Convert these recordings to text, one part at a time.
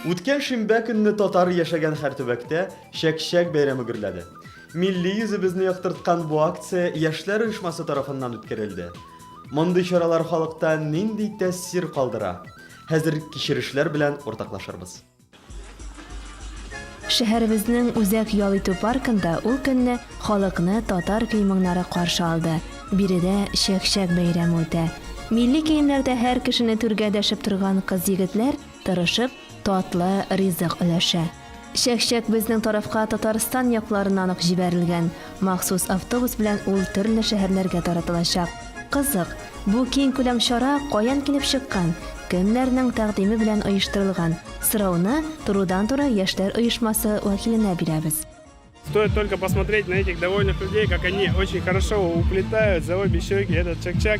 Үткән шимбә көнне татар яшәгән һәр төбәктә Чәк-чәк бәйрәме гөрләде. Милли йөзебезне яктырткан бу акция яшьләр оешмасы тарафыннан үткәрелде. Мондый чаралар халыкта нинди тәэсир калдыра? Хәзер кичерешләр белән уртаклашырбыз. Шәһәребезнең үзәк ял итү паркында ул көнне халыкны татар көй-моңнары каршы алды. Биредә чәк-чәк бәйрәме үтә. Милли киемнәрдә һәр кешене түргә дәшеп торган кыз-егетләр тырышып, татлы ризык өләшә. Чәк-чәк безнең тарафка Татарстан якларыннан ук җибәрелгән. Махсус автобус белән ул төрле шәһәрләргә таратылачак. Кызык, бу киң күләм чара каян килеп чыккан, кемнәрнең тәкъдиме белән оештырылган? Сорауны турыдан-туры яшьләр оешмасы вәкиленә бирәбез. Стоит только посмотреть на этих довольных людей, как они очень хорошо уплетают за обе щеки этот чак-чак.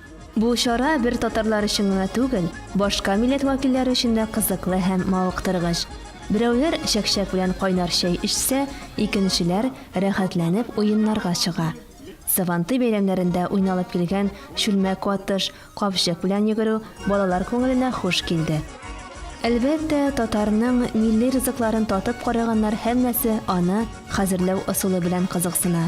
Бу чара бер татарлар өчен генә түгел, башка милләт вәкилләре өчен дә кызыклы һәм мавыктыргыч. Берәүләр чәкчәк белән кайнар чәй эчсә, икенчеләр рәхәтләнеп уеннарга чыга. Сабантуй бәйрәмнәрендә уйналып килгән чүлмәк атыш, капчык белән йөгерү балалар күңеленә хуш килде. Әлбәттә, татарның милли ризыкларын татып караганнар һәммәсе аны хәзерләү ысулы белән кызыксына.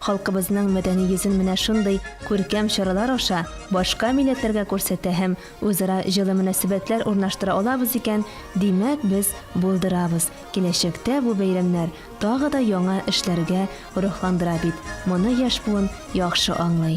Халкыбызның мәдәни йөзен менә шундый күркәм чаралар аша башка милләтләргә күрсәтә һәм үзара җылы мөнәсәбәтләр урнаштыра алабыз икән, димәк, без булдырабыз, киләчәктә бу бәйрәмнәр тагы да яңа эшләргә рухландыра бит, моны яшь буын яхшы аңлый.